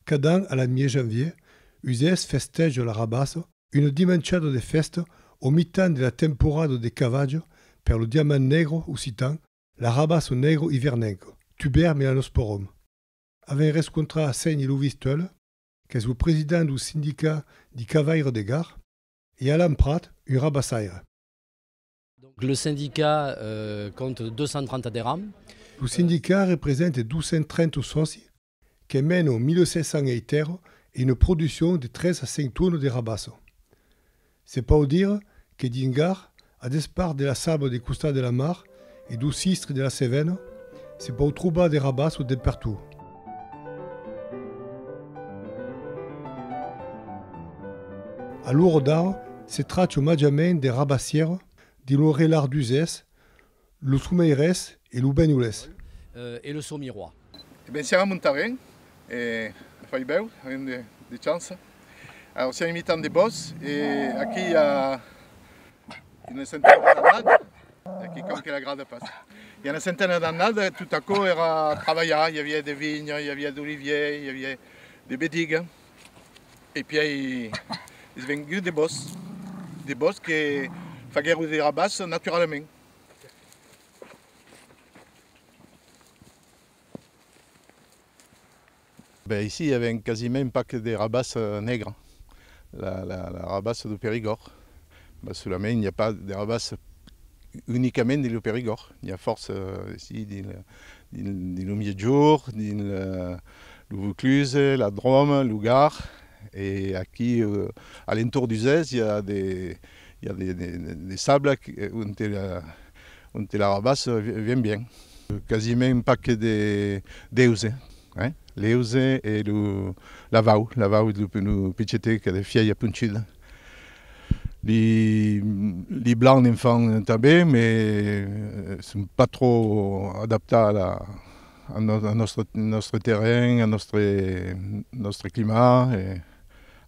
Cada an a la mièg-janvièr, Uzès festèja la Rabassa, una dimanchada de fèsta au mitan de la temporada de cavatge per lo diamant negre occitan, la Rabassa negre ivernenca, Tuber melanosporum. Avèm rescontrat a Sèni Lovis Teule, qu'es lo president dau sindicat di cavaires de Gard, e Alan Prat, un rabassaire. Lo sindicat compte 230 aderents. Lo sindicat represente 230 sòci que meno 1.700 eitèro e una produccion de 3 a 5 tuono de rabasso. Se pòu dire que dins Gar, a despart de la sabla de costat de la mar e do sistre de la Cevena, se pòu trobar de rabasso dempertú. A l'ora d'ara se tracha màgiament de rabassièra dins lo relat d'Uzès, Lo someirés e lo benholés. E lo somirois. E ben siam a Montarén e fai bèu, avèm de chança. Alors siam imitant de bòs e aquí i a una centena d'annada, aquí com que la grada passa, i a una centena d'annada tot aquò èra trabalhat, i aviá de vinha, i aviá d'olivier, i aviá de bediga e pièi es vengut de bòs, de bòs que faguèron de rabàs naturalament. Ben aicí i aven quasiment pas de rabassa negra, la rabassa du Perigòrd, mas solament i a pas de rabassa unicament dins lo Perigòrd, n'i a fòrça aicí dins lo Miègjorn, dins lo Vaucluse, la Dròme, lo Gard e aquí a l'entorn d'Uzès i a de I a de sabla onte l'arrabas vien bien. Quasiment pac d'euse, l'euse e lo lavau, lavau de lo pichetet qu'a de fièia ponchuda. Li blancs ne'n fan tanben me son pas trò adaptats al nòstre terren, al nòstre climat.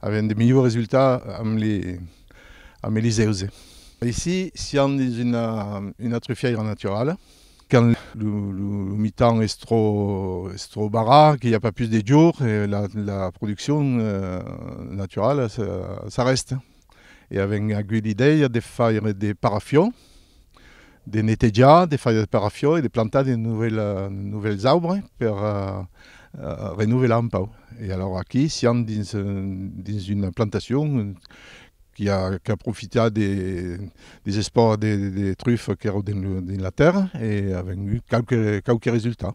Avián de melhors resultats amb li amb li zèuse. Aicí sián dins una una trufièira naturala. Quand lo lo lo mitan es trò es trò barrat que i a pas pus de jor la la produccion naturala s'arrèsta. e avèm agut l'idèia de faire de parafion, de netejar, de faire de parafion e de plantar de novèls aubres per renovelar un pauc. E alòra aquí siam dins una plantacion qui a profitat des espòrs de trufas qu'èran dins la tèrra e avèm agut qualques resultats.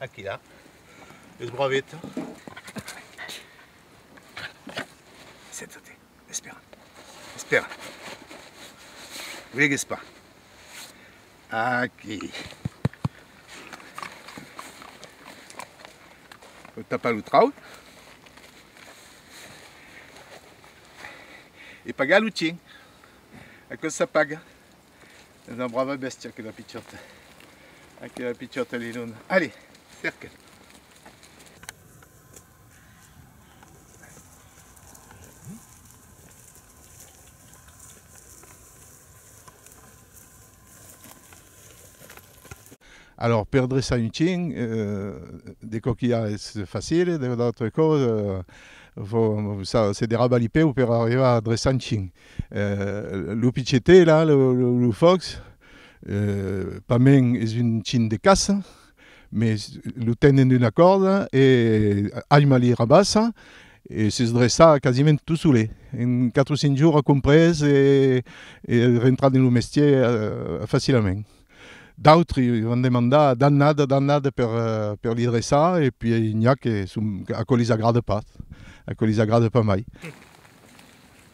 Aquí là, es broaveta. Senta-te, espera, espera. Vegues pas. Aquí. Vou tapar lo trau. E pagar lo chin. Aquò s'apaga. Es una brava bèstia aquela pichòta. Aquela pichòta li dona. Allez, cerca. Alors, per dreçar un chin, euh, de coquilhar es facile, de l'autre còs, euh, vos, se derraba li peu per arribar a dreçar un chin. Lo pichetet la, lo fòcs, pas mens es un chin de caça, mes lo tenen d'una còrda e Aima li rabassa e s'es dreçat quasiment tot solet. En quatre o cinc jorn a comprés e es rentrat dins lo mestier facilament. D'autri van demandar d'annada, d'annada per li dreçar e pui n'i a que son, aquò lis agrada pas, aquò lis agrada pas mai.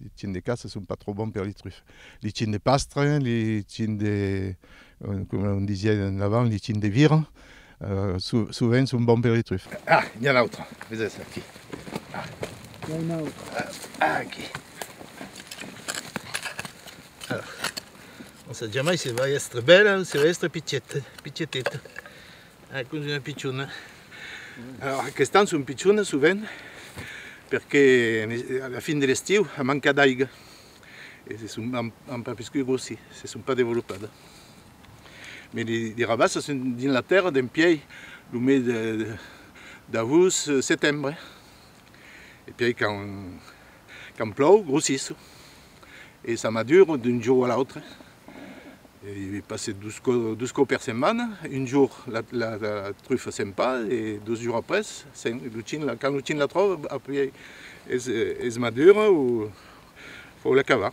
Li chien de caça son pas trop bons per li trufes. Li chien de pastre, li chien de, coma on disiá avant, li chien de vira, sovent son bons per li trufes. Ah! N'i a un autre, vesètz aquí. Ah! N'i a un autre. Ah! Aquí. Alors, on sap jamai se va èstre bèla o se va èstre pitieta, pitieteta. Ai pus una pichona. Alors aquest an son pichona sovent perque a la fin de l'estiu a manca d'aiga e se son an pas piscut grossir, se son pas developada. Me li rabassa son dins la tèrra d'en piei lo mes d'agost setembre e piei quand plòu grossisson. e ça m'a dure d'un jour à l'autre je passais 12 cops per setmana un jour la truffa se'n pas e dos jours après quand lo chine la tròva apuèi es madura o fòu la cava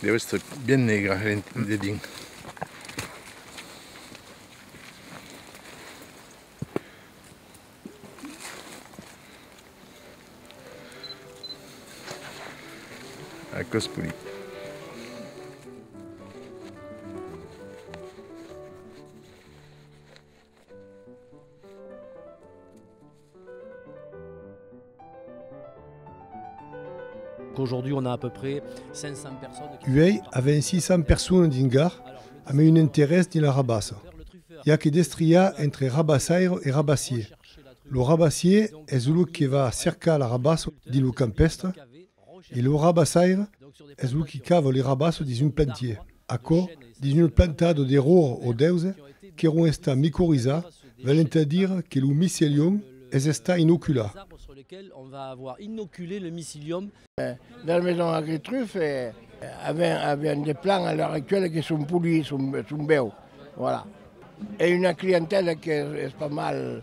Deu èstre bien negra de dins. Aquò's polit. Uèi avèm 600 personas dins Gard amb un interès dins la rabassa. I a que destriar entre rabassaire e rabassier. Lo rabassier es lo que va cercar la rabassa dins lo campèstre E lo rabassaire es lo qui cava li rabasso dins un plantier. Aquò dins una plantada de ror o d'èuse qu'èron estat micorizar velent a dire que lo micelium es estat inocular. Dans maison agritruf avèm de plants a l'ora actuèla que son polits, son bèus. Voilà. E una clientèla qu'es pas mal.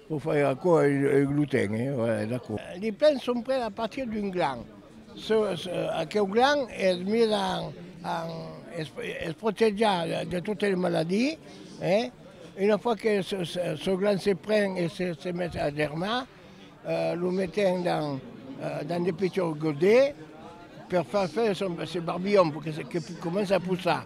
Lo fai aquò e lo ten, e voilà, es aquò. Li plens son pres a partir d'un glan. Aqueu glan es mis en, es protejar de totes les maladies, e una fois que çò glan se pren e se met a germar, lo metem dans de petits godets per far faire ses barbillons, que comença a poussar.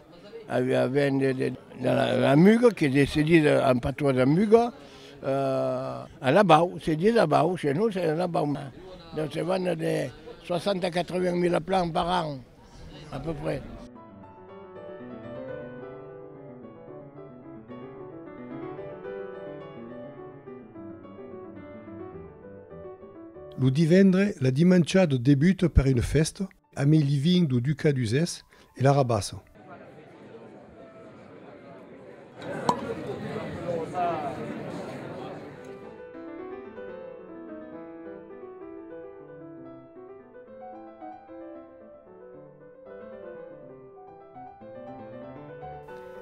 Aviá vent de la Muga que se sedís en patois de Muga, a la bau, se dís la bau, chez nous c'est la bau. Donc se vend de 60 à 80 mila plans par an à peu près. Lo divendre, la dimancha de debut per una fèsta, Amé living do ducat d'Uzès e la rabassa.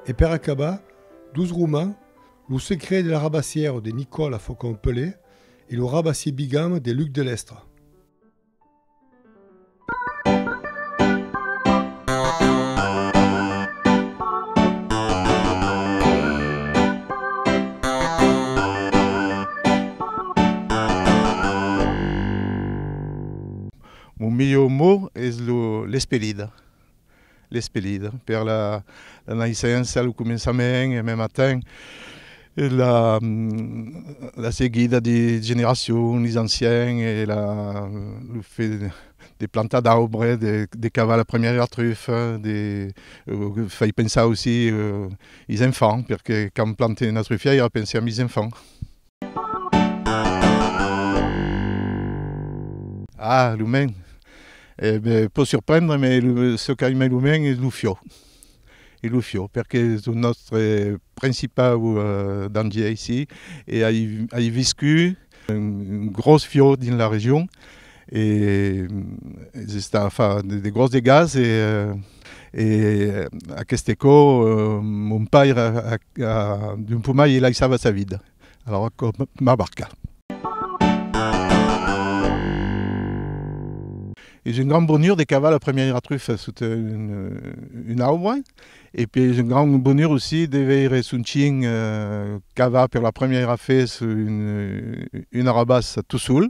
E per acabar, dos romans, Lo secret de la rabassièra de Nicòla Faucon-Pelé e Lo rabassier bigame de Luc Delestre. Mon melhor mot es lo, l'espelida. L'espelida, per la naissença, lo començament e mèm atent la seguida de generacion, los anciens e lo fet de plantar d'aubre, de cavar la premièra trufa, fai pensar aussi los enfants, perque quand plante una trufièira pense amb los enfants. Ah, lo men, eh, pòt surprendre, me çò qu'aime lo men es lo fiò, es lo fiò, perque es lo nòstre principau dangier aicí, e ai viscut un gròs fiò dins la region, E s'està a far de gròs degats e aqueste aquò mon paire d'un pomai i laissava sa vida. Alara aquò m'a marcat. Es un grand bonur de cavar la premièira trufa sota una aubra e pe es un grand bonur aussi de veire son chin cavar per la premièira fes una rabassa tot sol.